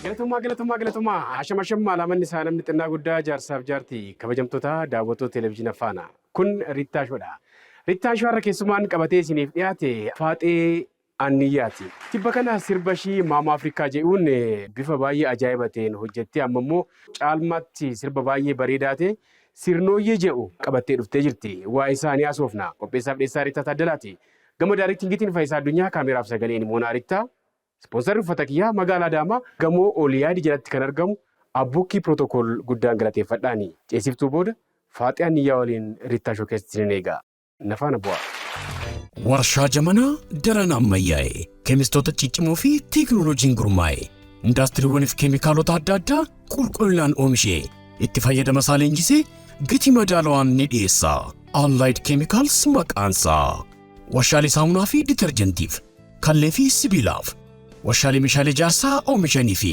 Galatomaa galatomaa galatomaa hashama shamma alaamanni isaa namni xinnaa guddaa jaarsaaf jaarti kabajamtoota daawwattoota televezyiina faana kun Riittaa Shoodha. Riittaa Shoo har'a keessumaan qabatee isiniif dhiyaate Faaxee Anniyyaati. Tibba kana sirba ishii Maama Afrikaa jedhuun bifa baay'ee ajaa'iba ta'een hojjettee amma immoo caalmaatti sirba baay'ee bareedaa ta'e Sirnooyyee jedhu qabattee dhuftee jirti. Waa'ee isaa ni haasofna. Qopheessaa fi dhiyeessaa Rittaa Taaddalaati. Gama Daarektiingiitiin Fayisaa Addunyaa, Kaameeraa fi Sagaleen Moonaa Rittaa. Ispoonsarri uffata kiyyaa Magaalaa Adaamaa gamoo Ooliyaadi jalatti kan argamu Abbukkii Protocol guddaan galateeffadhaani. Ceesiftuu booda Faaxee Anniyyaa waliin Rittaa Showcase isinin eega. Nafaana bu'aa. Warshaa jamanaa daran ammayyaa'e, keemistoota ciccimoo fi teeknooloojiin gurmaa'e, indaastiriiwwaniif keemikaalota adda addaa qulqullinaan oomishee, itti fayyadama isaa leenjisee gatii madaalawaan ni dhiyeessa. Allied Chemicals maqaansaa. Warshaalee saamunaa fi ditarjentiif, kallee fi sibiilaaf, warshaalee meeshaalee ijaarsaa oomishanii fi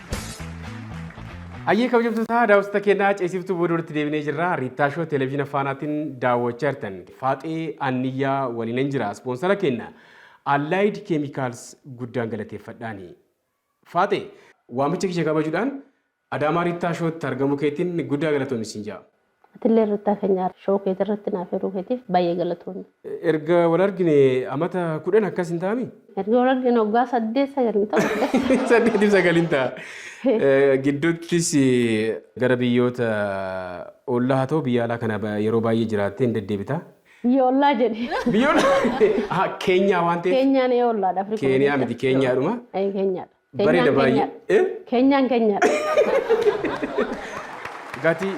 Hayyee kabajamtootaa daawwattoota keenyaa ceesiftuu booda walitti deebinee jirra. Riittaa Shoo televezyiina faanaatiin daawwachaa jirtan. Faaxee Anniyyaa waliinan jira. Ispoonsara keenya Allied Chemicals guddaan galateeffadhaani. Faaxee waamicha kiyya kabajuudhaan Adaamaa Riittaa Shootti argamuu keetiin guddaa galatoomi siin ja'a. Atillee irratti hafenya show keeti irratti naaf hiruu keetiif baay'ee galatoomi. Erga wal argine amata kudhan akkas hin taami? Erga wal argine waggaa saddeet sagal hin ta'u. Saddeetii sagal hin ta'a. Gidduuttis gara biyyoota ollaa haa ta'u biyya alaa kana yeroo baay'ee jiraattee hin deddeebita. Biyya ollaa jedhi. Biyya ollaa? Keenyaa waan ta'eef. Keenyaan ee ollaadha Afrikaa. Keeniyaa miti Keenyaadhuma. Keenyaadha. Bareeda baay'ee. Eh? Keenyaan keenyadha. Gaati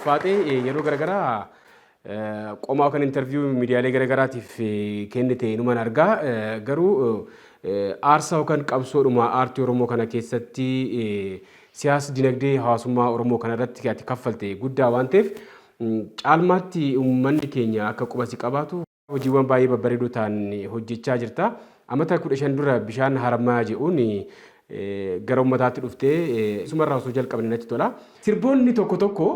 faaxee yeroo garaagaraa eh, qomaa kan interviiyuu miidiyaalee garaagaraatiif eh, kennite inuman argaa Eh, garuu eh, aarsaa yookaan qabsoodhuma aartii Oromoo kana keessatti eh, siyaas dinagdee hawaasummaa Oromoo kana irratti ati kaffalte guddaa waan ta'eef mm, caalmaatti uummanni keenya akka qubasi qabaatu Hojiiwwan baay'ee babbareedoo ta'an hojjechaa jirta. Amata 15 dura bishaan harammayaa je'uun gara ummataatti dhuftee sumarraa osoo jalqabne natti tola. Sirboonni tokko tokko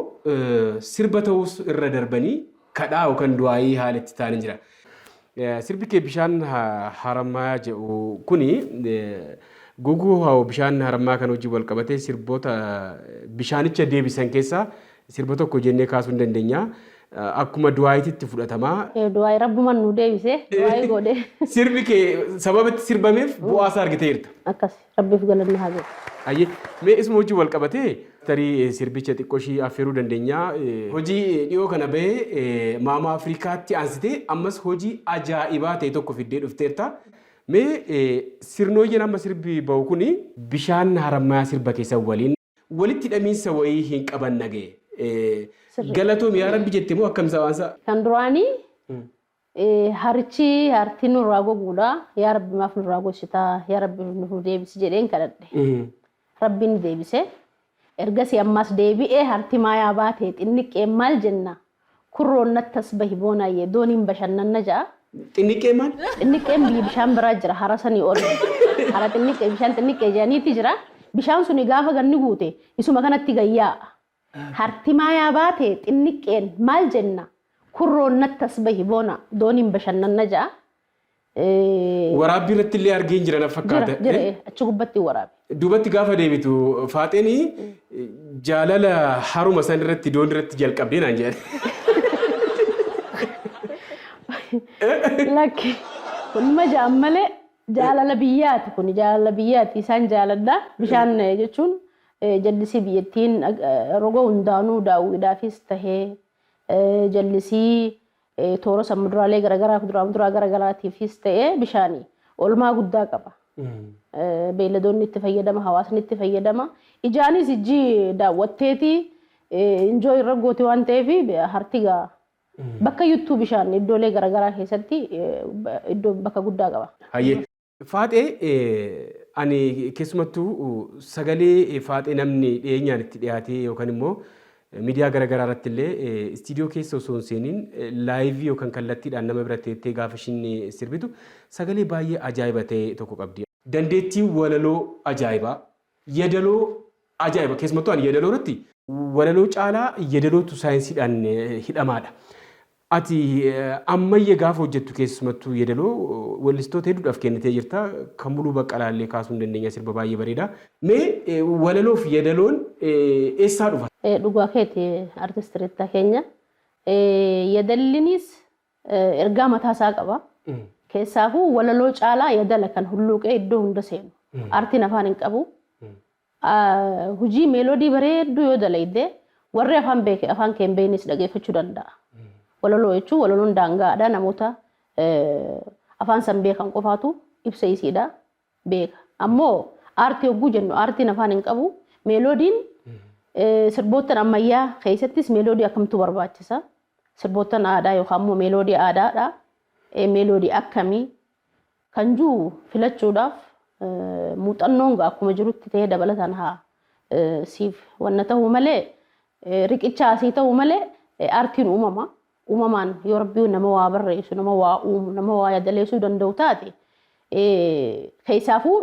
sirba ta'uus irra darbanii kadhaa yookaan du'aa'ii haala itti ta'an jira. Sirbi kee bishaan harammayaa je'u kuni goguu hoo bishaan harammayaa kan hojii wal qabatee sirboota bishaanicha deebisan keessaa Sirba tokko jennee kaasuu hin dandenya. Akkuma du'aayititti fudhatamaa. Du'aayi rabbuman nu deebise du'aayi goodhe. Sirbi kee sababa itti sirbameef bu'aa isaa argiteerta. Akkasi rabbiif galanni haa ga'u. Hayyee mee isuma wajjin wal qabatee tarii sirbicha xiqqoo ishii affeeruu dandenyaa. Hojii dhiyoo kana bahe Maamaa Afrikaatti aansitee ammas hojii ajaa'ibaa ta'e tokko fiddee dhufteerta. Mee sirnooyyeen amma sirbi bahu kuni. Bishaan Harammayaa sirba kee san waliin. Walitti hidhamiinsa wayii hin qaban nage. Sirrii. Galatoom yaa rabbi jette moo akkam sawaansa? Kan duraanii eh, harichi harti nurraa goguudha. Yaa Rabbi maaf nurraa gogsitaa? Yaa Rabbi nuuf nu deebisi jedheen kadhadhe. Rabbiin ni deebise. Ergasii ammaas deebi'ee harti maayaa baatee xinniqqeen maal jenna? Kurroon nattas bahi Boonaayyee dooniin bashannanna ja'a. Xinniqqee maal? Xinniqqeen biyya bishaan biraa jira hara sanii ol. Hara xinniqqee bishaan xinniqqee jedhaniiti jira. Bishaan suni gaafa ganni guute isuma kanatti gad yaa'a. Harti maayaa baate xinniqqeen maal jenna? Kurroon nattas bahi Boonaa dooniin bashannanna ja'a. Eh, Waraabbii irratti illee argeen jira na jira fakkaata. jira Eh? eh, achi gubbatti hin waraabe. Duubatti gaafa deebitu faaxeen jaalala haruma san irratti doon irratti jalqabdee naan jedhan. Lakki kun ma ja'an malee jaalala biyyaati kun jaalala biyyaati isaan jaaladha bishaan eh, jechuun eh, jallisii biyyattiin eh, roga hundaanuu daawwiidhaafis tahee eh, jallisii Toora san muduraalee garagaraa kuduraa muduraa garagaraatiifis ta'ee bishaani olmaa guddaa qaba. Beeyladoonni itti fayyadama, hawaasni itti fayyadama. Ijaanis ijji daawwatteeti injoo irra gooti waan ta'eef harti gaa bakka yuttuu bishaan iddoolee garagaraa keessatti iddoo bakka guddaa qaba. Hayyee Faaxee ani keessumattuu sagalee faaxee namni dhiyeenyaan itti dhiyaatee yookaan immoo miidiyaa gara garaa irratti illee istiidiyoo keessa osoo hin seeniin laayivii yookaan kallattiidhaan nama bira teettee gaafa ishiin sirbitu sagalee baay'ee ajaa'iba ta'e tokko qabdi. Dandeettii walaloo ajaa'ibaa, Yadaloo ajaa'iba keessumattuu ani yadaloo irratti. Walaloo caalaa yadalootu saayinsiidhaan hidhamaadha. Ati ammayya gaafa hojjettu keessumattuu yadaloo wellistoota hedduudhaaf kennitee jirta. Kan Muluu Baqqalaa illee kaasuu ni dandeenya sirba baay'ee bareeda. Mee walaloo fi yadaloon eessaa dhufa? Dhugaa keeti artist Ritta keenya. Yadallinis Ergaa mataa isaa qaba. Keessaafuu walaloo caalaa yadala kan hulluuqee iddoo hunda seenu. Aartiin afaan hin qabu. Hujii meeloodii bareedduu yoo dalayde warri afaan beeke afaan kee hin beeknes dhageeffachuu danda'a. Walaloo jechuun walaloon daangaadha namoota afaan san beekan qofaatu ibsa isiidha. beeka. Ammoo aartii hogguu jennu aartiin afaan hin qabu. Meeloodiin sirboottan ammayyaa keessattis meeloodii akkamtu barbaachisa. Sirboottan aadaa yookaan immoo meeloodii aadaadha. Meeloodii akkamii kan jiru filachuudhaaf muuxannoon akkuma jirutti ta'ee dabalataan haa siif wanna ta'u malee riqicha asii ta'u malee aartiin uumama. Uumamaan yoo Rabbi nama waa barreessu, nama waa uumu, nama waa yadaleessuu danda'u taate keessaafuu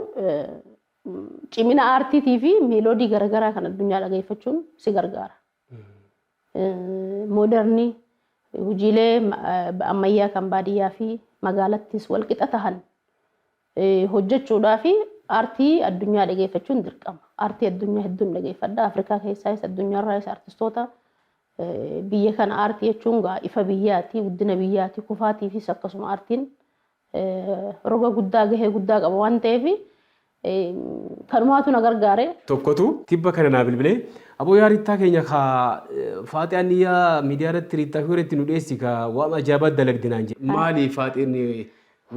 cimina aartiitii fi meeloodii garagaraa kan addunyaa dhageeffachuun si gargaara. Moodarni hojiilee ammayyaa kan baadiyyaa fi magaalattis walqixa tahan hojjechuudhaa fi aartii addunyaa dhageeffachuun dirqama. Aartii addunyaa hedduun dhageeffadha. Afrikaa keessaayis addunyaarraayis aartistoota Biyya kana aartii jechuun gaa ifa biyyaati, guddina biyyaati, kufaatiifis akkasuma aartiin roga guddaa gahee guddaa qaba waan ta'eef kanumaatu na gargaare. tokkotu tibba kana naa bilbilee aboo yaa Riittaa keenya ka Faaxiyaan niyyaa miidiyaa irratti Riittaa fi Wareetti nu dheessi ka waan ajaa'ibaa dalagde naan jedhe. Maali Faaxeen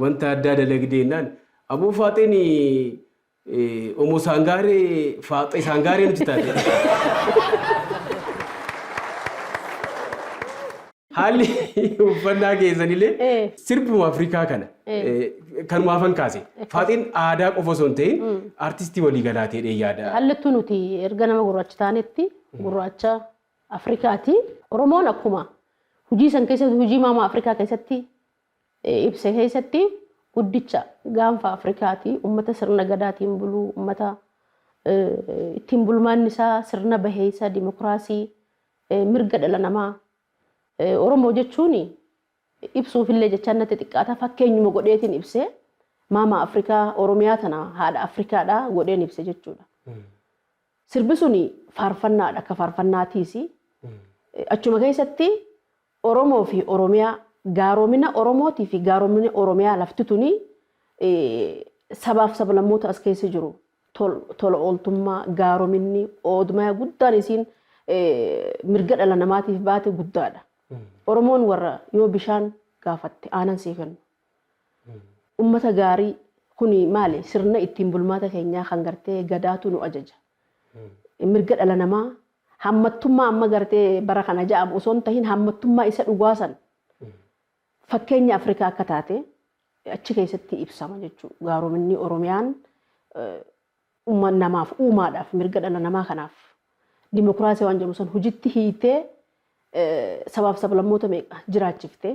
wanta addaa dalagde jennaan aboo Faaxeen Eh, Omo Sangaare Faaxee Sangaaree nuti taate. Haalli uffannaa keessanilee Eh. sirbuma Afrikaa kana Eh. eh, kanumaa afan kaase. Faaxeen aadaa qofa osoo hin ta'in artistii walii galaatee dhee yaada. Hallattuu nuti erga nama gurraacha taanetti gurraacha Afrikaati. Oromoon akkuma hojii san keessatti hojii maamaa Afrikaa keessatti ibse keessatti guddicha gaanfa Afrikaati. Ummata sirna Gadaatiin bulu, ummata ittiin bulmaanni isaa sirna baheessa, dimokiraasii, mirga dhala namaa. Oromoo jechuun ibsuuf illee jechaan natti xiqqaata. Fakkeenyuma godheetiin ibse. Maama Afrikaa, Oromiyaa tana haadha Afrikaadha godheen ibse jechuudha. Sirbi suni faarfannaadha. Akka faarfannaatiisi. Achuma keessatti Oromoo fi Oromiyaa, gaaroomina Oromootii fi gaaroomina Oromiyaa lafti tuni sabaaf sablammoota as keessa jiru tola ooltummaa, gaarominni, oodmaya guddaan isiin mirga dhala namaatiif baate guddaadha. Oromoon warra yoo bishaan gaafatte aanan sii kennu, Ummata gaarii kuni maali sirna ittiin bulmaata keenyaa kan gartee gadaatu nu ajaja. Mirga dhala namaa hammattummaa amma gartee bara kana ja'amu osoo hin tahin hammattummaa isa dhugaa san fakkeenya Afrikaa akka taate achi keessatti ibsama jechuu gaarominni Oromiyaan umma namaaf uumaadhaaf mirga dhala namaa kanaaf dimokiraasii waan jedhamu san hujitti hiitee sabaaf sablammoota meeqa jiraachiftee.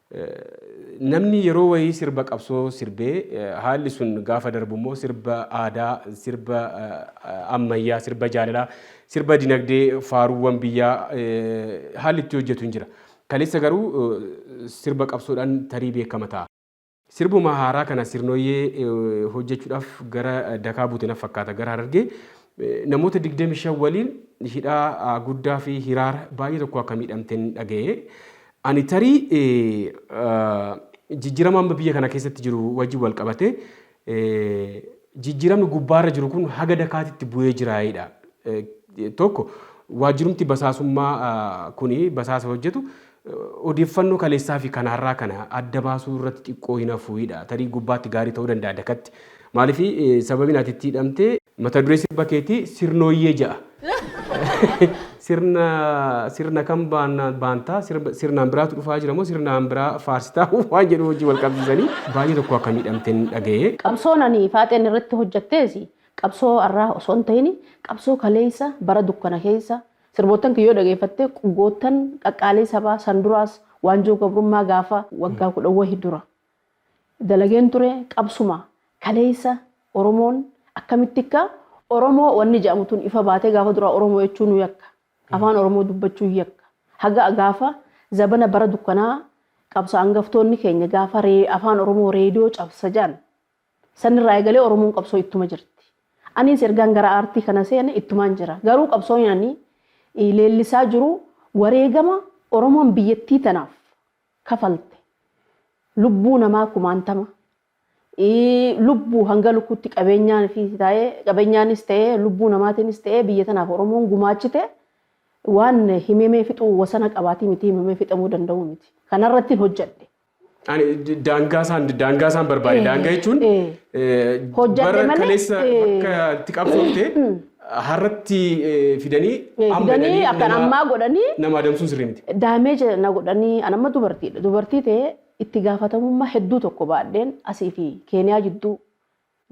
Namni yeroo wayii sirba qabsoo sirbee haalli sun gaafa darbu immoo sirba aadaa, sirba ammayyaa, sirba jaalalaa, sirba dinagdee, faaruuwwan biyyaa haalli itti hojjetu hin jira. Kaleessa garuu sirba qabsoodhaan tarii beekama ta'a. Sirbuma haaraa kana Sirnoyyee hojjechuudhaaf gara Dakaa buute naf fakkaata gara Harargee. Namoota 25 waliin hidhaa Guddaa fi Hiraar baay'ee tokkoo akka miidhamten dhaga'e. Ani tarii jijjiirama amma biyya kana keessatti jiru wajjin wal qabatee jijjiiramni gubbaarra jiru kun haga dakaatitti bu'ee jiraayidha. Tokko waajjirumti basaasummaa kuni basaasa hojjetu odeeffannoo kaleessaa fi kan har'aa kana adda baasuu irratti xiqqoo hin hafuuyidha. Tarii gubbaatti gaarii ta'uu danda'a dakatti. Maaliif sababiin ati itti hidhamte Mata duree sirba keetii sirnooyyee ja'a. Sirna sirna kam baannaan baantaa sirba sirnaan biraatu dhufaa jira moo sirnaan biraa faarsitaa waan jedhu wajjin wal qabsiisanii baay'ee tokko akka miidhamteen dhaga'e. Qabsoon ani Faaxeen irratti hojjattees qabsoo arraa osoo hin tahin qabsoo kaleessa bara dukkana keessa sirboottan kiyya yoo dhageeffatte qgoottan qaqqaalii sabaa san duraas waanjoo gabrummaa gaafa waggaa kudhan wahi dura dalageen ture qabsuma kaleessa oromoon akkamitti akka oromoo wanni jedhamu tun ifa baatee gaafa duraa oromoo jechuu nu yakka afaan oromoo dubbachuu yakka haga gaafa zabana bara dukkanaa qabsa angaftoonni keenya gaafa ree- afaan oromoo reediyoo cabsa jedhan sanirraa eegalee oromoon qabsoo ittuma jirti aniis ergaan gara aartii kana seene ittumaan jira garuu qabsoon ani eh, leellisaa jiru wareegama oromoon biyyattii tanaaf kafalte lubbuu namaa kumaantama lubbuu hanga lukkuutti qabeenyaanis ta'ee lubbuu namaatiinis ta'ee biyya tanaaf Oromoon gumaachite waan himamee fixuu wasana qabaatii miti himamee fixamuu danda'uu miti. Kanarrattiin hojjedhe. Daangaa isaan daangaa isaan barbaade daangaa jechuun hojjedhe malee kaleessa bakka itti qabsoofte Harratti fidanii amma fidanii jedhanii akkan nama ammaa godhanii nama adamsuun sirrii miti. daameeja na godhanii an amma dubartiidha dubartii ta'ee itti gaafatamummaa hedduu tokko baadheen asii fi keeniyaa jidduu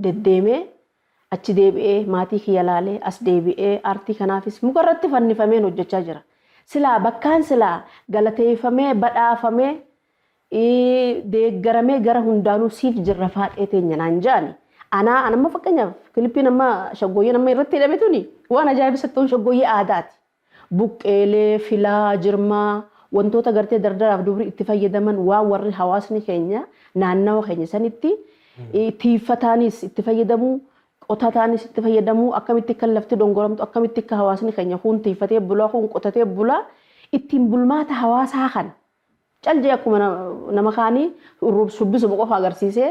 deddeemee achi deebi'ee maatii kiyya laalee as deebi'ee aartii kanaafis mukarratti fannifameen hojjechaa jira silaa bakkaan silaa galateeffamee badhaafamee deeggaramee gara hundaanuu siif jirra faaxee teenya naan ja'ani. Anaa an amma fakkeenyaaf kilippiin amma shaggooyyeen amma irratti hidhame tuni waan ajaa'ibsitti ta'uun shaggooyyee aadaati. Buqqeelee, filaa, jirmaa wantoota gartee dardaraaf dubri itti fayyadaman waan warri hawaasni keenya naannawa keenya sanitti tiiffataanis itti fayyadamu qotataanis itti fayyadamu akkamitti akka lafti dongoramtu akkamitti akka hawaasni keenya kun tiiffatee bulaa kun qotatee bulaa ittiin bulmaata hawaasaa kana Cal jedhee akkuma nama kaanii shubbisuma qofa agarsiisee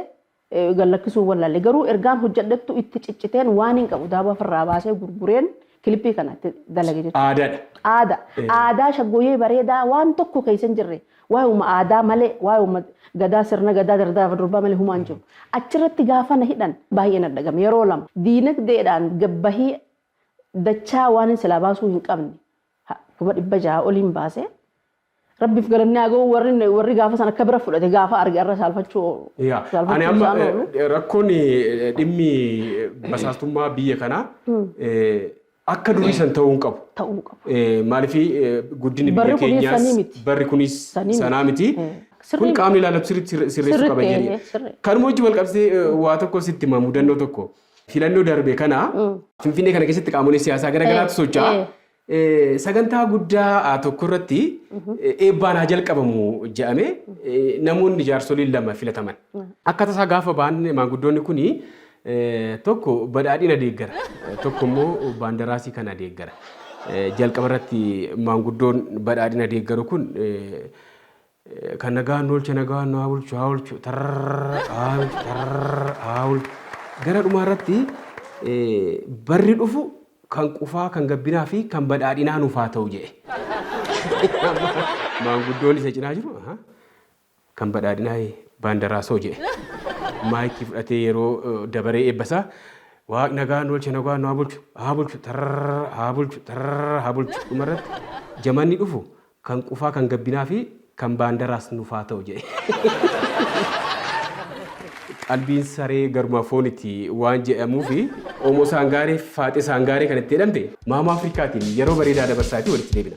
gad lakkisuu hin wallaale. Garuu ergaan hojjedhettu itti cicciteen waaniin qabu daaboo ofirraa baasee gurgureen kilippii kana itti dalage jechuudha. Aadaadha. Aadaa. Ee. Aadaa shaggooyyee bareedaa waan tokko keessa hin jirre waayuma aadaa malee waayuma gadaa sirna gadaa dardara durbaa malee humaa hin jiru. Achirratti gaafa na hidhan baay'ee na dhagame yeroo lama. Diinagdeedhaan gabbahii dachaa waanin silaa baasuu hin qabne ha- kuma dhibba ja'a oliin baasee Rabbif galanni haa ga'u warri warri gaafa san akka bira fudhate gaafa arge arra saalfachuu Yaa, ani saalfachuu amma isaan oolu. eh, rakkoon eh, dhimmi basaastummaa biyya kanaa eh, akka durii san ta'uu hin qabu. ta'uu hin qabu. Eh, Maaliif eh, guddinni Barri biyya kunis keenyaas sanii miti. barri kunis Sanii miti. sanaa miti. Eh, sirrii Kun miti. qaamni ilaalatu sirriitti sirre- sirreessuu Sirriitti, qaba eh, jedhee. sirrii. Kanuma wajjin wal qabsee eh, waa tokko sitti hima mudannoo tokko. Filannoo darbe kana Finfinnee kana keessatti qaamolee siyaasaa gara garaatu Eh, socho'a. eh. Sagantaa guddaa tokko irratti eebbaan haa jalqabamu jedhamee namoonni jaarsoliin lama filataman. Akka tasaa gaafa ba'an maanguddoonni kun tokko badhaadhina deeggara tokko immoo baandaraasii kana deeggara. Jalqaba irratti maanguddoon badhaadhina deeggaru kun Kan nagaan nu olche nagaan nu haa bulchu haa olchu tarrrrrr haa olchu tarrrrrr haa olchu. Gara dhumaa irratti barri dhufu kan qufaa, kan gabbinaa fi kan badhaadhinaa nuuf haa ta'u jedhe. Maanguddoon isa cinaa jiru kan badhaadhinaa Baandaraasoo jedhe. Maayikii fudhatee yeroo dabaree eebba isaa Waaq nagaan nu olche nagaan nu haa bulchu haa bulchu tarrrrrr haa bulchu tarrrrrr haa bulchu. Dhuma irratti jamanni dhufu Kan qufaa kan gabbinaa fi kan baandaraas nuf haa ta'u jedhe. Qalbiin saree garuma fooniti waan jedhamuufi Oomoo Saangaaree fi Faaxee Saangaaree kan itti jedhamte Maama Afrikaatiin yeroo bareedaa dabarsaati walitti deebina.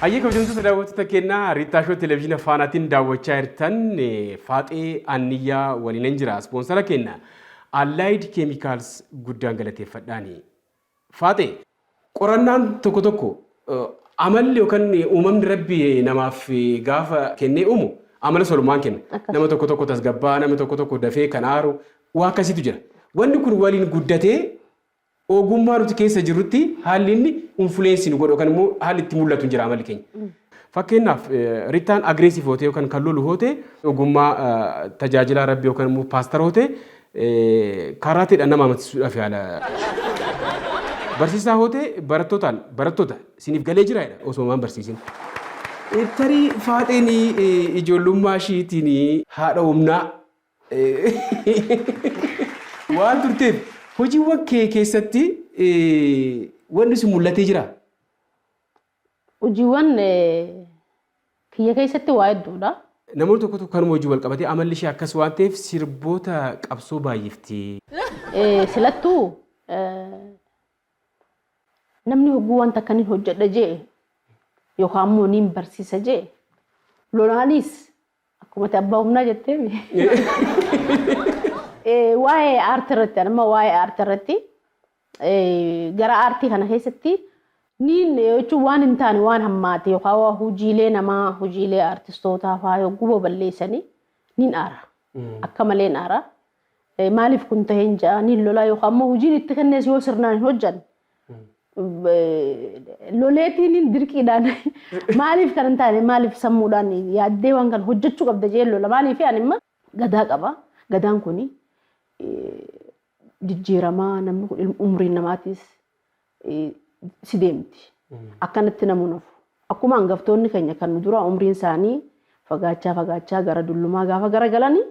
Hayyee kabajamtoota daawwattoota keenya Riittaa Shoo Televiziina Faanaatiin daawwachaa jirtan Faaxee Anniyyaa waliinan jira. Ispoonsara keenya Allied Chemicals guddaan galateeffadhaani. Faaxee. Qorannaan tokko tokko amalli yookaan uumamni rabbi namaaf gaafa kennee uumu amala solumaan kenna. Akkas. Nama tokko tokko tasgabbaa, nama tokko tokko dafee kan aaru waa akkasiitu jira. Wanni kun waliin guddatee Ogummaa nuti keessa jirrutti haalli inni influence nu godhu yookaan immoo haalli itti mul'atu hin jira amalli keenya. Fakkeenyaaf Rittaan aggressive hootee yookaan kan lolu hootee ogummaa tajaajilaa rabbi yookaan immoo paastar hootee kaaraateedhaan nama amansiisuudhaaf yaala. Barsiisaa hootee barattootaan barattoota isiniif galee jira jedha osoo waan barsiisin. Tarii faaxeen ijoollummaa ishiitiin haadha humnaa waan turteef hojiiwwan kee keessatti wanni sun mul'atee jira? Hojiiwwan kiyya keessatti waa hedduudha. Namoonni tokko tokko kanuma wajjin wal qabatee amalli ishee akkas waan ta'eef sirboota qabsoo baay'ifti. Silattuu namni hogguu waan takka nin hojjedha jee yookaan immoo nin barsiisa jee lolaanis Akkuma ati abbaa humnaa jettee mi? Eh, Waa'ee aartii irratti ani amma waa'ee aartii irratti eh, gara aartii kana keessatti niin jechuun waan hin taane waan hammaate yookaan waa hojiilee namaa hojiilee aartistootaa faa yogguu baballeessanii niin aara. Akka malee niin aara. Maaliif kun tahe hin ja'a ni lolaa yookaan immoo hojiin itti kennees yoo sirnaan hin hojjanne loleetiin dirqiidhaan maaliif kan hin taane maaliif sammuudhaan yaaddee waan kana hojjechuu qabda jee lola maaliif ani imma gadaa qaba gadaan kun jijjiiramaa namni kun umriin namaatiis si deemti akkanatti namuu nafu akkuma hangaftoonni keenya kan nu duraa umriin isaanii fagaachaa fagaachaa gara dullumaa gaafa gara galanii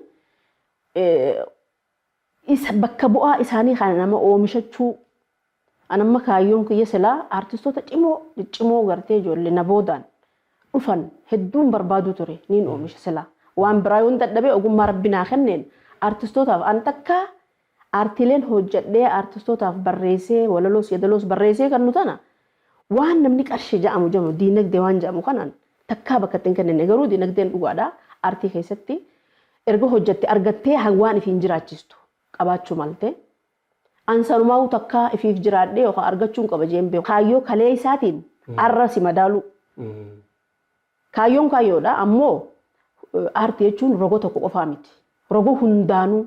isa bakka bu'aa isaanii kana nama oomishachuu an amma kaayyoon kiyya silaa artistoota cimoo ciccimoo gartee ijoollee na boodaan dhufan hedduun barbaaduu ture niin oomisha silaa waan biraa yoon dadhabee ogummaa rabbi naa kenneen artistootaaf an takkaa aartiileen hojjadhee artistootaaf barreessee walaloos yadaloos barreessee kan nu tana Waan namni qarshii ja'amu ja'mu diinagdee waan ja'amu kanaan takkaa bakka itti hin kennine garuu diinagdeen dhugaadha aartii keessatti erga hojjatte argattee ha waan ifiin jiraachistu qabaachuu malte an sanumaahuu takkaa ifiif jiraadhee yookaan argachuun qaba je'een beeku kaayyoo kaleessaatiin arra si madaaluu kaayyoon kaayyoodha ammoo aartii jechuun roga tokko qofaa miti roga hundaanuu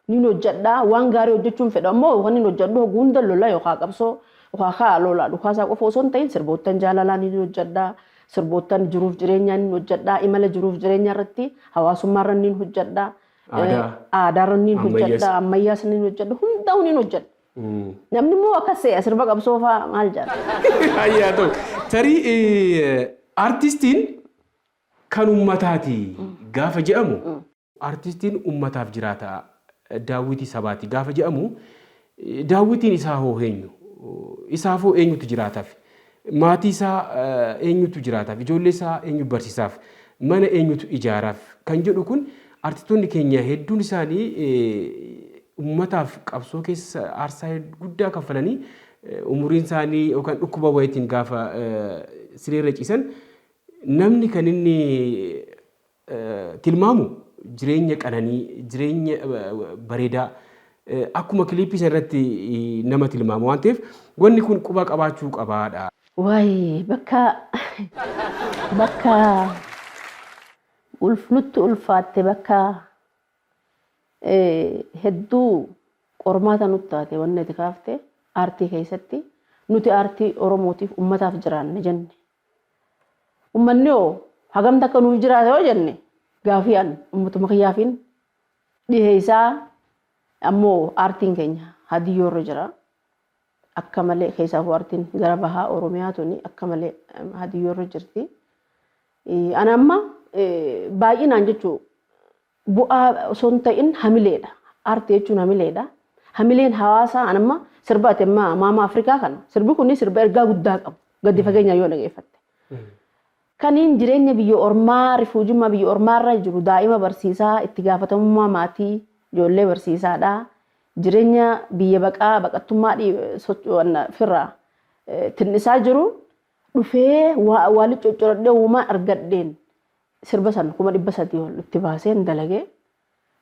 Nin hojjedha, waan gaarii hojjechuun fedha ammoo kanin hojjedhu hogguu hunda lola yookaa qabsoo yookaa kaa lola dhukaasaa qofa osoo hin ta'in sirboottan jaalalaa nin hojjedha, sirboottan jiruuf jireenyaa nin hojjedha, imala jiruuf jireenyaa irratti hawaasummaa irra nin hojjedha, Aadaa. aadaa irra nin Ammayyaas. hojjedha, ammayyaas nin hojjedha, hundaa'u nin hojjedha. Namni immoo akkas se'a sirba qabsoo fa'aa maal jedha? Ayyi haa ta'u. Tarii eh, artistiin kan ummataati gaafa jedhamu Artistiin ummataaf jiraata, daawwitii sabaati gaafa jedhamu, daawwitiin isaa hoo eenyu? Isaaf hoo eenyutu jiraataaf? Maatii isaa eenyutu jiraataaf? Ijoollee isaa eenyu barsiisaaf? Mana eenyutu ijaaraaf? Kan jedhu kun artistoonni keenya hedduun isaanii ummataaf qabsoo keessa aarsaa guddaa kaffalanii umuriin isaanii yookaan dhukkuba wayitiin gaafa sireerra ciisan namni kan inni tilmaamu jireenya qananii, jireenya bareedaa akkuma kiliippii sana irratti nama tilmaama waan ta'eef wanni kun quba qabaachuu qabaadha. Waay bakka bakka ulf nutti ulfaatte bakka hedduu qormaata nutti taate wanni ati kaafte aartii keessatti nuti aartii Oromootiif ummataaf jiraanna jenne Ummanni hoo hagam takka nuuf jiraata yoo jenne gaafii an ummatuma kiyyaafiin dhiheessaa ammoo aartiin keenya hadiyyoo irra jira akka malee keessaafuu aartiin gara bahaa oromiyaa tuni akka malee hadiyyoo irra jirti. Ana amma baay'inaan jechuu bu'aa osoo hin ta'in hamileedha. Aartii jechuun hamileedha. Hamileen hawaasaa an amma sirba ati amma maama Afrikaa kana sirbi kun sirba ergaa guddaa qabu gadi fageenyaan yoo dhageeffatte. Kaniin jireenya biyya ormaa rifuujummaa biyya ormaarra jiru daa'ima barsiisaa itti gaafatamummaa maatii ijoollee barsiisaadha. Jireenya biyya baqaa baqattummaa firraa tinnisaa jiru dhufee waa waa liccoccoradhee uumaan argadheen sirba san 300,000 ol itti baaseen dalage.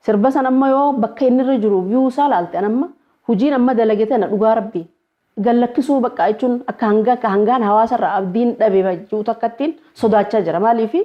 Sirba san amma yoo bakka inni irra jiru view isaa laalte an amma hujiin amma dalage tana dhugaa rabbii gad lakkisuu baqqaa jechuun akka hanga akka hangaan hawaasa irraa abdiin dhabe ba- ji'u takkattiin sodaachaa jira. Maaliifi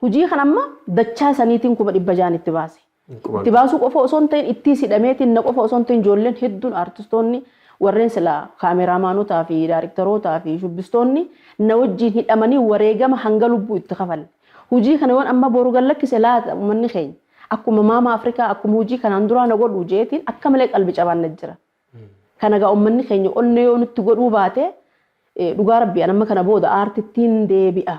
hujii kan amma dachaa saniitiin 600,000 itti baase. Itti baasuu qofa osoo hin ta'in ittiis hidhameetiin na qofa osoo hin ta'in ijoolleen hedduun aartistoonni warreen silaa kaameraamaanotaa fi daariktarootaa fi shubbistoonni na wajjiin hidhamanii wareegama hanga lubbuu itti kafalle. Hujii kana yoon amma boru gad lakkise laata ummanni keenya akkuma maama Afrikaa akkuma hujii kanaan duraa na godhuu jeetiin akka malee qalbi cabaan na jira. Kana gaa ummanni keenya onnee yoo nutti godhuu baate dhugaa rabbii an amma kana booda aartittiin deebi'a.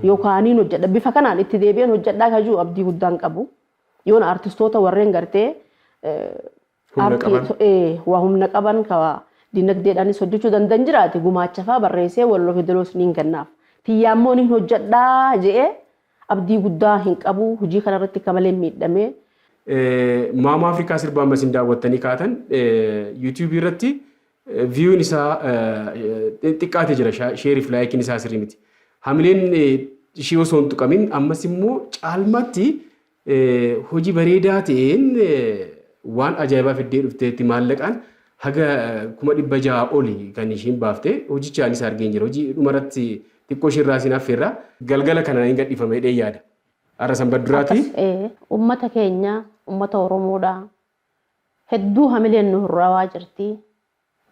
Yookaaniin hojjedha. Bifa kanaan itti deebi'een hojjedhaa ka jiru abdii guddaan qabu. Yoon artistoota warreen gartee waa humna qaban ka dinagdeedhaanis hojjechuu danda'an jiraate gumaacha fa'aa barreessee walloo fidaloos niin kennaaf. Tiyyaa immoo niin hojjedhaa je'ee abdii guddaa hin qabu hojii kanarratti ka malee miidhamee. Maamaa Afrikaa sirbaan masin daawwattanii kaatan YouTube irratti Viewn isaa xiqqaate jira sheeriif laayikiin isaa sirrii miti. Hamileen ishii osoo hin tuqamin ammas immoo caalmaatti hojii bareedaa ta'een waan ajaa'ibaa fiddee dhufteetti maallaqaan haga kuma dhibba ja'a oli kan ishiin baafte hojicha anis argeen jira. Hojii dhumarratti xiqqoo ishii irraa siin affeerra. Galgala kana hin gadhiifama jedhee yaada. Har'a sanbaduraati. Akkas uummata keenya uummata Oromoodha. Hedduu hamileen nu hurraawaa jirti.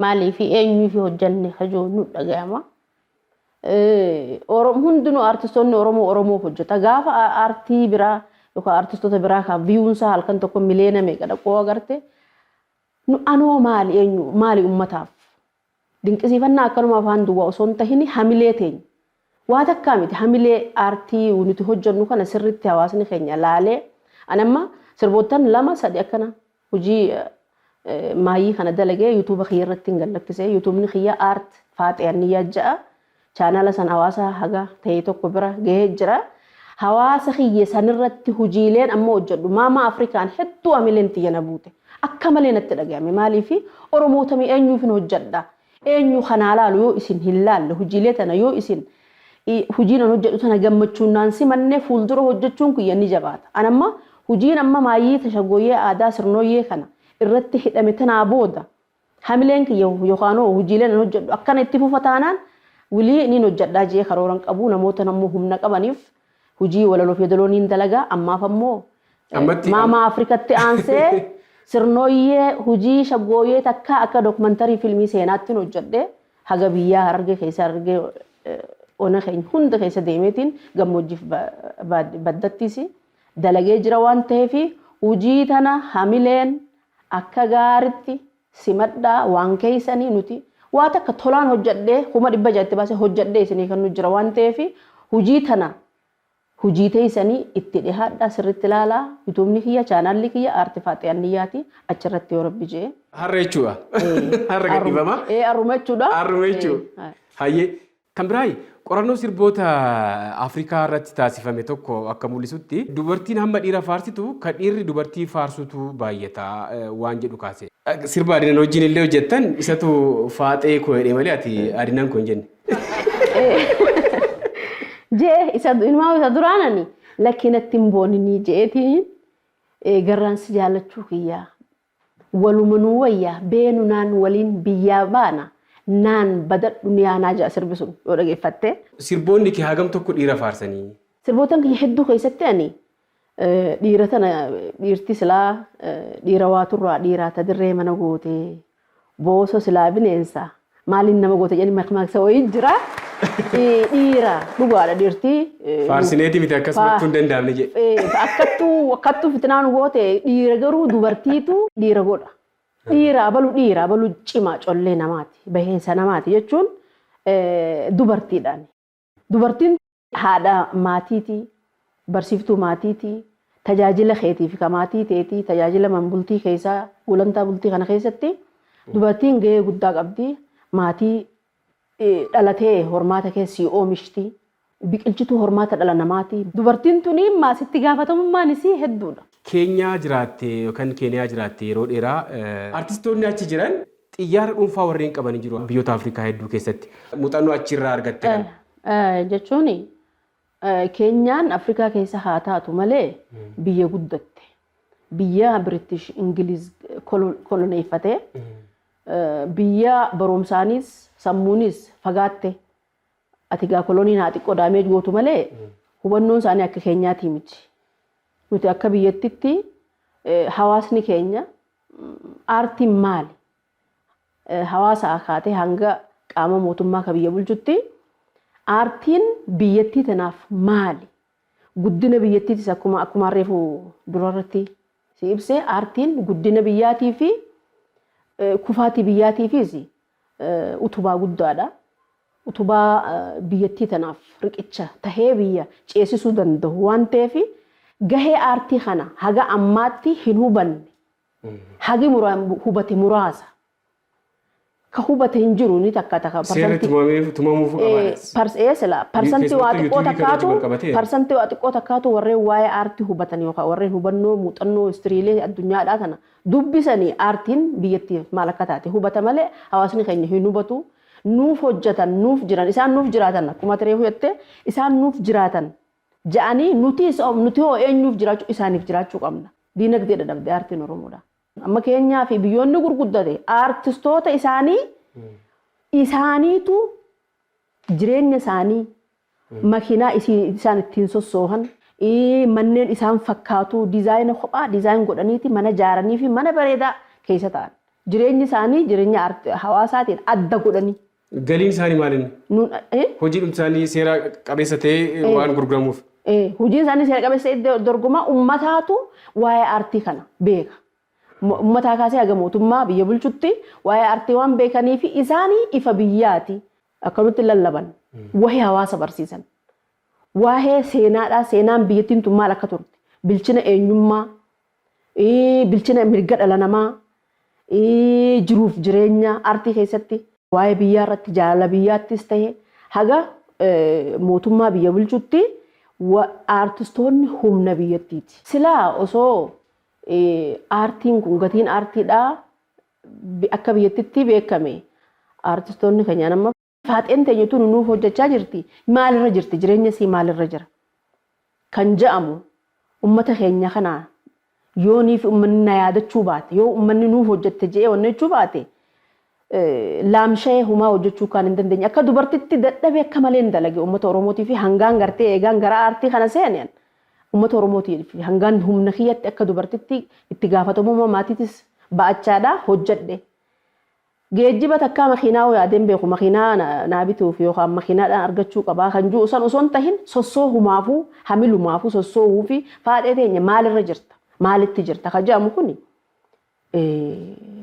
Maaliifi eenyuufi hojjanne ka jiru nu dhagayama. Hundinuu artistoonni Oromoo Oromoof hojjata. Gaafa aartii biraa yookaan artistoota biraa ka viyuun isaa halkan tokko miliyoona meeqa dhaquu agarte nu anoo maali eenyu maali ummataaf Dinqisiifannaa akkanuma afaan duwwaa osoo hin tahin hamilee teenya waa takkaa miti hamilee aartii nuti hojjannu kana sirriitti hawaasni keenya laalee ani amma sirboottan lama sadi akkana hojii maayyii kana dalagee youtube kiyya irrattin gad lakkise youtubni kiyya art faaxee anniyyaa ja'a Chaanala san hawaasa haga ta'e tokko bira gahee jira. Hawaasa kiyya sanirratti hujiileen amma hojjedhu Maama Afrikaan hedduu amileen tiyya na buute. Akka malee natti dhagayame maaliifi Oromoota mi eenyuufin hojjedha? Eenyu ka naa laalu yoo isin hin laalle hujiilee tana yoo isin hujiin an hojjedhu tana gammachuun naan simanne fuuldura hojjechuun kiyya ni jabaata. An amma hujiin amma maayyii ta Shaggooyyee Aadaa Sirnooyyee kana irratti hidhame tanaa booda Hamileen kiyya yookaanoo hujiileen an hojjadhu akkana itti fufa taanaan wly niin hojjadhaa je'ee karoora hin qabu namootan ammoo humna qabaniif hujii walaloof yedaloo niin dalaga ammaaf ammoo Ammatti am Maamaa Afrikatti aansee Sirnooyyee hujii shaggooyyee takkaa akka documentary filmii seenaattin hojjadhe haga biyyaa Harargee keessa Harargee ona keenya hunda keessa deemeetiin gammoojjiif ba baad baddattiisi dalagee jira waan taheefi hujii tana hamileen Akka gaaritti simadhaa waan keessanii nuti waa takka tolaan hojjadhee kuma dhibba ja'a itti baasee hojjadhee isinii kennuu jira waan ta'eef hujii tana hujii teessanii itti dhihaadhaa sirritti laalaa yutuubni kiyya chaanaalli kiyya aarti faaxee anniyyaati achirratti yoo rabbi je'e. Har'a jechuudha. Har'a gadhiifama. Ee arruma jechuudha. Har'uma jechuudha. Hayyee. Kan biraayi, qorannoo sirboota Afrikaa irratti taasifame tokko akka mul'isutti, dubartiin hamma dhiira faarsitu ka dhiirri dubartii faarsutu baayyata waan jedhu kaase. Sirba Adinan wajjin illee hojjettan isatu Faaxee koo jedhe malee ati Adinan koo hin jenne. Je'e isa inumaa isa duraanani lakkii natti hin booninii je'eeti garraan si jaallachuu kiyya Walumanuu wayya beenu naan waliin biyyaa baana naan bada duniyaa naa ja'a sirbi sun yoo dhageeffatte. Sirboonni kee hagam tokko dhiira faarsanii? Sirbootan kiyya hedduu keessatti ani dhiira tana dhiirti silaa dhiira waa turraa dhiiraa ta dirree mana gootee booso silaa bineensa Maaliin nama goota jedhanii makmaaksa wayii jira. Dhiira dhugaadha dhiirti. Faarsineeti miti akkas gochuu hin danda'amne jedhe. Akkattuu akkattuu fitinaa nu goote dhiira garuu dubartiitu dhiira godha. Dhiira abalu dhiira abalu cimaa collee namaati baheensa namaati jechuun dubartiidhaan. Dubartiin haadha maatiiti, barsiiftuu maatiiti, tajaajila keetiif ka maatii teeti, tajaajila man bultii keessa, gulantaa bultii kana keessatti dubartiin gahee guddaa qabdi. Maatii dhala tee hormaata kee sii oomishti. Biqilchituu hormaata dhala namaati. Dubartiin tuni maas itti gaafatamummaan isii hedduudha. Keenyaa jiraatte yookan Keeniyaa jiraatte yeroo dheeraa. Artistoonni achi jiran Xiyyaara dhuunfaa warreen qaban hin jiru biyyoota Afrikaa hedduu keessatti. Muuxannoo achi irraa argatte kana. Jechuun Keenyaan Afrikaa keessa haa taatu malee biyya guddatte. Biyya Biritish Ingiliz koloneeffate. Biyya barumsaanis sammuunis fagaatte. Ati gaa koloniin haa xiqqoo daameej gootu malee hubannoon isaanii akka keenyaatii miti. Nuti akka biyyattitti hawaasni keenya Aartiin maali? Hawaasaa kaatee hanga qaama mootummaa ka biyya bulchutti aartiin biyyattii tanaaf maali? Guddina biyyattiitis akkuma akkumaan reefu durarratti si ibse aartiin guddina biyyaatiifi kufaatii biyyaatiifiis utubaa guddaadha. Utubaa biyyattii tanaaf riqicha tahee biyya ceesisuu dandahu waan taheef gahee aartii kana haga ammaatti hin hubanne. Hagi hubate muraasa. Ka hubate hin jiru ni takka takka. Seerri tumameef tumamuuf qabaa. Parsantii waa xiqqoo takkaatu parsantii waa xiqqoo takkaatu warreen waa'ee aartii hubatan yookaan warreen hubannoo muuxannoo istiriilee addunyaadhaa tana Dubbisani aartiin biyyatti maal akka taate hubata malee hawaasni keenya hin hubatu. Nuuf hojjatan, nuuf jiran, isaan nuuf jiraatan akkuma ati reefu jette isaan nuuf jiraatan ja'anii nutiis hoo nuti hoo eenyuuf jiraachuu isaaniif jiraachuu qabna. Diinagdee dadhabde aartiin Oromoodha. Amma keenyaa fi biyyoonni gurguddate aartistoota isaanii isaaniitu jireenya isaanii makiinaa isaan ittiin sossoohan, manneen isaan fakkaatu dizaayina kophaa dizaayin godhaniiti mana jaaranii fi mana bareedaa keessa ta'an. Jireenyi isaanii jirenya hawaasaatiin adda godhanii. Galiin isaanii maal inni? Hojiidhumti isaanii seera qabeessa ta'ee waan gurguramuuf? Hojiin isaanii seera qabeessa ta'ee dorgomaa ummataatu waa'ee aartii kana beeka. Ummataa kaasee haga mootummaa biyya bulchutti waa'ee aartii waan beekaniif isaanii ifa biyyaati. Akkamitti lallaban? Waa'ee hawaasa barsiisan. Waa'ee seenaadhaa seenaan biyyattiin tun maal akka turte? Bilchina eenyummaa, bilchina mirga dhala namaa, jiruuf jireenya artii keessatti. Waa'ee biyyaa irratti jaalala biyyaattis ta'e haga mootummaa biyya bulchutti aartistoonni humna biyyattiiti. Silaa osoo aartiin kun gatiin aartiidhaa akka biyyattitti beekame artistoonni kenyaan amma faaxeen teenya tunu nuuf hojjachaa jirti maalirra jirti jireenya isii maalirra jira kan ja'amu ummata keenya kana yoo niif ummanni na yaadachuu baate yoo ummanni nuuf hojjatte je'ee onnechuu baate laamsha'ee humaa hojjachuu kaan hin dandeenye akka dubartitti dadhabee akka malee hin dalage ummata oromootii fi hangaan gartee eegaan gara aartii kana seeneen Ummata Oromootiif hangaan humna kiyyatti akka dubartitti itti gaafatamummaa maatiitis ba'achaadha hojjedhe. Geejjiba takkaa makiinaa hoo yaadeen beeku makiinaa naa bituuf yookaan makiinaadhaan argachuu qabaa kan ju'u san osoo hin tahin sossoohumaafuu hamilumaafuu sossoohuu fi faadhee teenya maalirra jirta maalitti jirta ka ja'amu kuni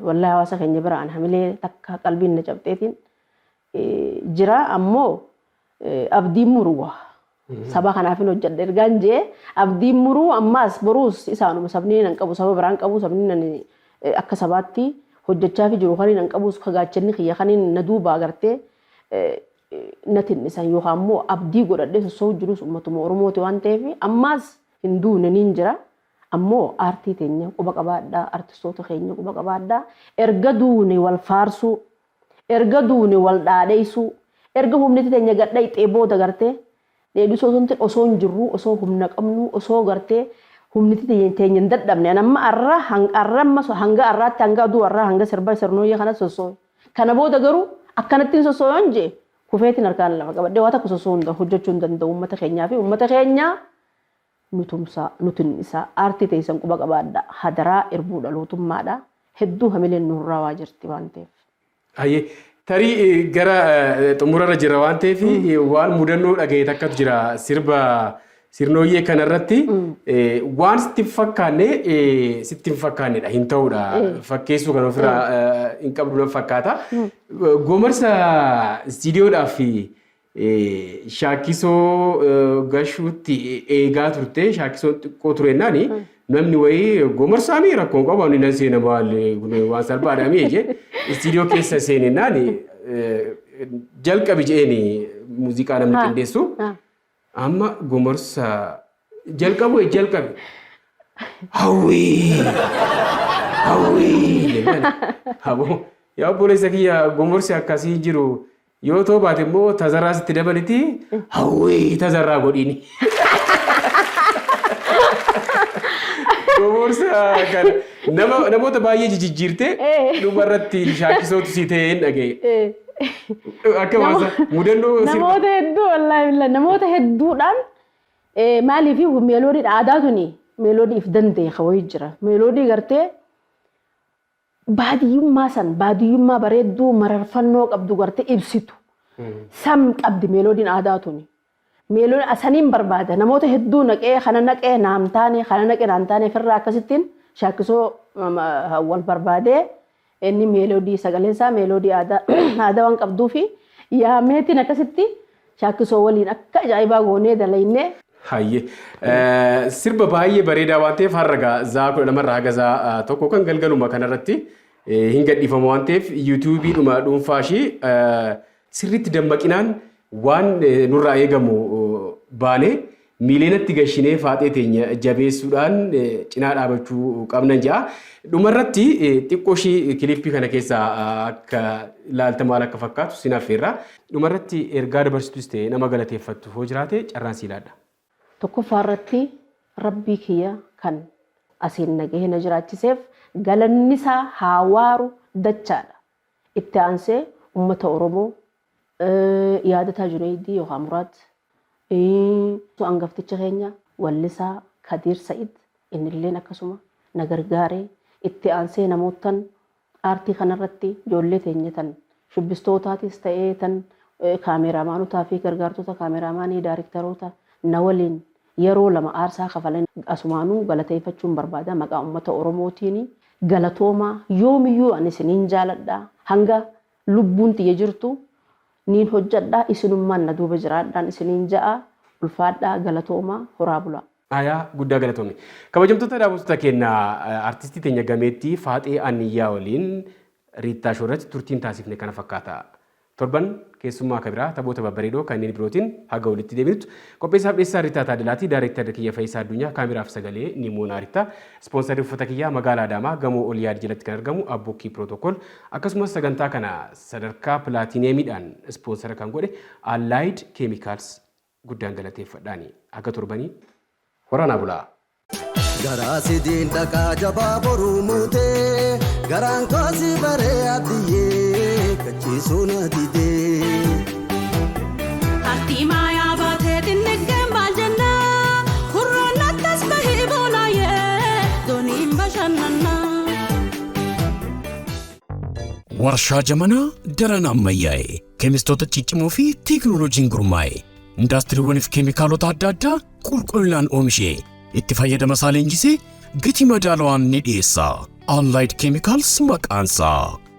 wallahi hawaasa keenya bira an hamilee takka qalbiin na cabxeetiin jiraa ammoo abdiin muru waa saba kanaafin hojjedha ergaan jee abdiin muruu ammaas boruus isaanuma sabni nan qabu saba biraan qabu sabni nan akka sabaatti hojjechaafi jiru kaniin an qabuus kagaachanni kiyya kaniin na duuba agartee natin dhisan yookaan immoo abdii godhadhee sossoo'u jirus ummatuma Oromooti waan ta'eef ammaas hin duune niin jira ammoo aartii teenya quba qabaadhaa artistoota keenya quba qabaadhaa erga duune wal faarsuu Erga duune wal dhaadheessuu. Erga humniti teenya gad dhayxee booda gartee dheedhisuu osoo hin ta'in osoo hin jirruu osoo humna qabnuu osoo gartee humniti teenya hin dadhabne an amma arra arra amma hanga arraatti hanga aduu arraa hanga sirba sirnooyyee kanatti sossoohe kana booda garuu akkanattin sossoohe yoon je'e kufeetin harkaan lafa qabadhee waa takka sossoohuu hin hojjachuu hin danda'u ummata keenyaa fi ummata keenya nu tumsaa, nu tinnisaa, aartii teessan quba qabaadhaa, hadaraa irbuu dhalootummaadhaa, hedduu hamileen nu hurraawaa jirti waan ta'eef. Hayyee, tarii gara xumurarra jirra waan ta'eef waan mudannoo dhagahe takkatu jira sirba sirnooyyee kanarratti waan sitti hin fakkaanne sitti hin fakkaannedha hin ta'udha fakkeessuu kan ofirraa hin qabdu nan fakkaata. Gomarsa istiidiyoodhaaf Shaakkisoo gashuutti eegaa turte shaakkisoon xiqqoo turennaan namni wayii gomarsaanii rakkoo hin qabu ani nan seena maal kun waan salphaadha mii jee istiidiyoo keessa seenennaan jalqabi jeeni muuziqaa namni Ah. qindeessu Ah. amma gomarsa jalqabu wayii jalqabi hawwii hawwii jennaan aboo yaa obboleessa kiyya gomorsi akkasii jiru Yoo too baate immoo tazarraa sitti dabaliti hawwii tazarraa godhiini. Gomorsa kana nama namoota baay'ee jijijjiirte Eh. dhuma irratti shaakisootu si ta'e hin dhaga'e. Eh. Akka Nama- waasa mudannoo sirba- namoota hedduu wallaahi billah namoota hedduudhaan eh, maaliif meeloodiin aadaa tuni meeloodii if danda'e kawayii jira meeloodii gartee Baadiyyummaa san baadiyyummaa bareedduu mararfannoo qabdu gartee ibsitu san qabdi meeloodiin aadaa tuni. Meeloon saniin barbaada namoota hedduu naqee kana naqe naan taane kana naqe naan taane firraa akkasittiin shaakkisoo wal barbaadee inni meeloodii sagaleen isaa meeloodii aadaa waan qabduufi yaameetiin akkasitti Shaakkisoo waliin akka ajaa'ibaa goonee dalayne. Hayye. Sirba baay'ee bareedaa waan ta'eef har'a gaa zaa kudha lamarraa haga zaa tokko kan galgaluma kanarratti hin gadhiifama waan ta'eef yuutuubii dhuma dhuunfaa ishii sirriitti dammaqinaan waan nurraa eegamu baanee Miiliyoonatti gashinee faaxee teenya jabeessuudhaan cinaa dhaabachuu qabnan ja'a. Dhumarratti xiqqoo ishii kiliippii kana keessaa akka ilaalta maal akka fakkaatu sin affeerra. Dhumarratti ergaa dabarsitus ta'e nama galateeffattu hoo jiraate carraan sii laadha. Tokkoffaa irratti Rabbii kiyya kan asiin na gahee na jiraachiseef galannisaa haa waaru dachaadha. Itti aansee ummata Oromoo Yaadataa Juneeydii yookaa Muraad ii angafticha keenya wallisaa Kadiir Sa'id innilleen akkasuma na gargaare. Itti aansee namoottan aartii kanarratti ijoollee teenya tan shubbistootaatiis ta'ee tan kaameeraamaanotaa fi gargaartota kaameeraamaanii, daarektaroota na waliin yeroo lama aarsaa kafalan asumaanuu galateeyfachuun barbaada maqaa ummata Oromootiini. Galatoomaa! Yoomiyyuu ani isiniin jaaladha. Hanga Lubbuun tiyya jirtu niin hojjadha isinummaan na duuba jiraadhaan isiniin ja'a ulfaadhaa galatoomaa horaa bulaa. Ayaa guddaa galatoomi. Kabajamtoota daawwattoota keenya artistii teenya gameettii Faaxee Anniyyaa waliin Riittaa Show irratti turtiin taasifne kana fakkaata. Torban keessummaa ka biraa taphoota babbareedoo kanneen birootiin haga walitti deebinutti qopheessaaf dhiyeessaan Riittaa Taaddalaati. Daarektarri kiyya Fayisaa Addunyaa, kaameraaf sagalee Nimoonaa Riittaa. Ispoonsarri uffata kiyyaa Magaala Adaamaa Gamoo Oliyaad jalatti kan argamu Abbukkii Protocol akkasumas sagantaa kana sadarkaa Pilaatineemiidhaan ispoonsara kan godhe Allied Chemicals guddaan galateeffadhaani. Haga torbanii horaa naa bulaa! Garaa si diin dhaqaa jabaa boruu muutee garaan koo si baree abdiyyee kachiisuu na didee. Artii maayaa baatee xinniggeen maal jenna? Hurraan nattas bahee boonaayee dooniin bashannanna. Warshaa jamanaa daran ammayyaa'e, keemistoota ciccimoo fi teekinooloojiin gurmaa'e, indaastiriiwwaniif keemikaalota adda addaa qulqullinaan oomishee, itti fayyadama isaa leenjisee gatii madaalawaan ni dhiyeessa. Allied Chemicals maqaansaa.